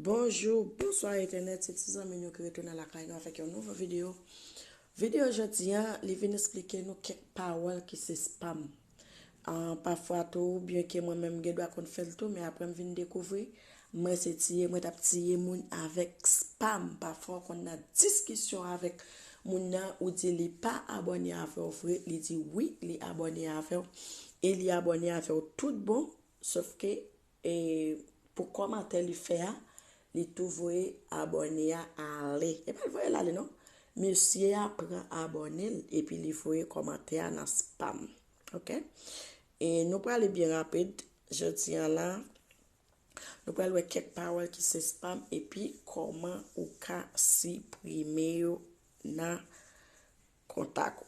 Bonjou, bonswa entènèt, se ti zanmi nou ki retounen lakay nou avèk yon nouvo videyo. Videyo jodi an, li vin esplike nou kèk pawòl ki se spam. Pafwa tou, byenke mwen menm m gen dwa konn fè l tou, men aprè m vin dekouvri, mwen se tiye, mwen t ap tiye moun avèk spam. Pafwa ou konn nan diskisyon avèk moun nan, ou di li pa abòne avè w vre, li di wi li abòne avè w, e li abòne avè w tout bon, sofke. E pou kòmantè li fè a li tou voye abòne a ale e pa l voye l ale non mesye a pran abòne l epi li voye kòmantè a nan spam ok e nou prale byen rapid jodi an la nou pral wè kèk pawòl ki se spam epi kòman ou ka siprime yo nan kontak ou.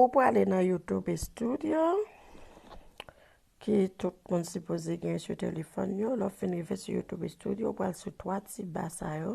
Ou prale nan YouTube Studio, ki tout moun sipoze gen sou telefòn yo. Lè w fin rive sou YouTube Studio, ou pral sou twa ti ba sa yo.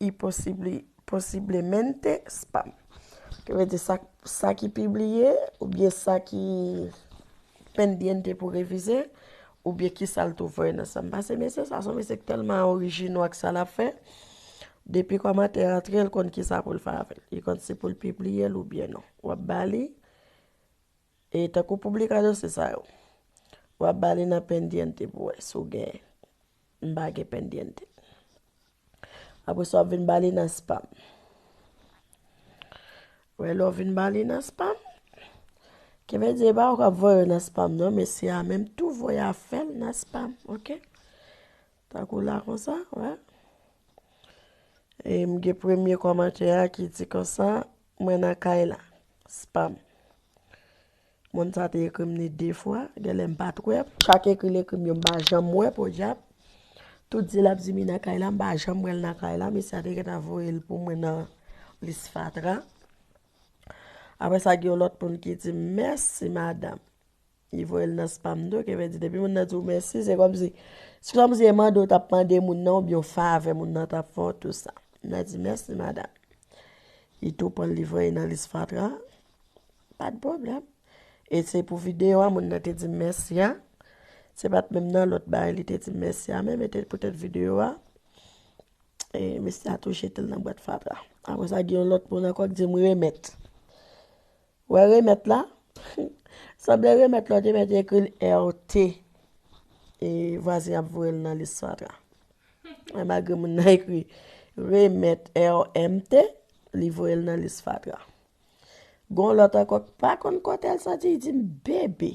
y posiblemente spam. Ki vle di sa ki pibliye ou byen sa ki pendiente pou revize ou byen ki sa l tou voye nan spam. Pase mesye sa son mesye ki telman orijino ak sa l ap fè. Depi komantè a antre l konn ki sa pou l fè avè l. Li konn si pou l pibliye l ou byen non. W ap ba li. E tankou publica dosye sa yo. Wap bali nan pendiente pou wè si w gen. M pa gen pendiente. Apre sa wap vin bali nan spam. Wè lè w vin bali nan spam. Ki vle di e pa ou kap voye yo nan spam non mesye a menm tou voye afè l nan spam ok. Tankou la konsa wè. E m gen premye kòmantè a ki di konsa Mwen nan kay la. Spam. Moun sa te ekrim ni 2 fwa, genlè m pat wè. Chak ekri l ekrim yo m pa janm wè podyab. Tout di lap di mi nan kay la m pa janm wè l nan kay la. Mesye a te gentan voye l pou mwen nan lis fatra. Aprè sa gen yon lòt moun ki di m mèsi madam. Li voye l nan spam tou, ke vle di depi moun nan di w mèsi, se kòmsi se kòmsi e mande w t ap mande moun nan oubyen yon favè moun nan t ap fè w tou sa. Moun nan di mèsi madam. Li tou pran l li voye nan lis fatra, pa t pwoblèm. E se pou videyo a moun nan te di m mèsi a, se pa t menm nan lòt bagay li te di m mèsi a menm e te poutèt videyo a. E mesye a tou jete l nan bwat fatra. Apre sa gen yon lòt moun ankò ki di m remèt. Ou wè remèt la? Sanble remèt la ou te mèt ekri l RT e vwazen an ap voye l nan lis fatra. Men malgre moun nan ekri remèt RMT, li voye l nan lis fatra. Gon lòt ankò k pa konn kote l soti, li di m bebe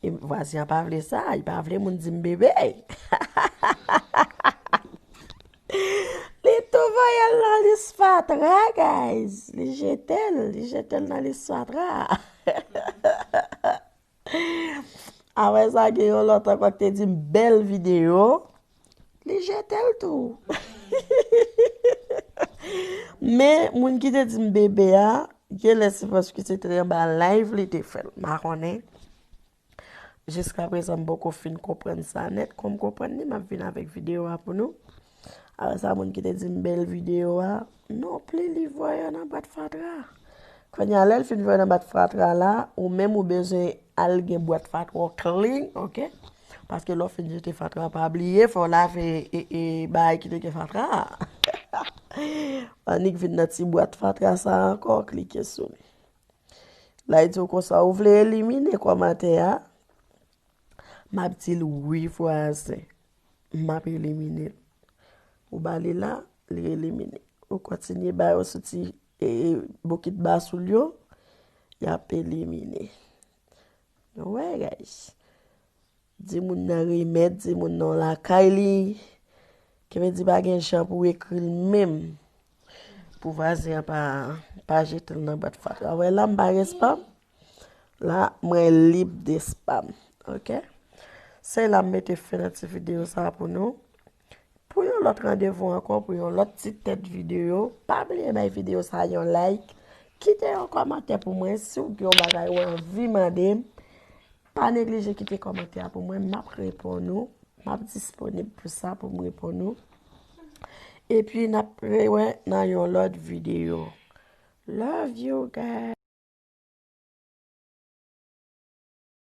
E vwazen an pa vle sa, li pa vle moun di m bebe. Li tou voye l nan lis fatra guys. Li jete l, li jete l nan lis fatra. Apre sa gen yon lòt ankò ki te di m bèl videyo. Li jetel tou. Men moun ki te dim bebe a genlè se paske se te anba live li te fèl. M pa konnen. Jiska prezan m poko fin konprann sa nèt. Kon m konprann li m ap vin avèk videyo a pou nou. Apre sa moun ki te dim bèl videyo a. Non pli li voye yo nan bwat fatra. Konya lèl fin voye nan bwat fatra la ou menm ou bezwen al gen bwat fatra w klin ok. Paske lè w fin jete fatra a pa bliye fè w lave bagay ki te gen fatra a. Annik vin nan ti bwat fatra sa a ankò klike sou li. La li di w konsa ou vle elimine kòmantè a? M ap di l wi vwazen. M ap elimine l. Ou ba li la, li elimine. Ou kontinye ba yo sou ti bokit basoul yo, y ap elimine. Wè guys. Di moun nan remèt, di moun nan w lakay li. Kivedi pa gen jan pou w ekri l menm. Pou vwazen an pa jete l nan bwat fatra. Wè la m pa gen spam. La mwen lib de spam. Ok. Se la m mete fen nan ti videyo sa pou nou. Pou yon lòt randevou ankò pou yon lòt ti tèt videyo, pa bliye bay videyo sa yon like, kite yon kòmantè pou mwen si w gen yon bagay ou anvi mande m, pa neglije kite kòmantè a pou mwen, m ap reponn ou, m ap disponib pou sa pou m reponn ou. Epi n ap rewè nan yon lòt videyo. Love you guys!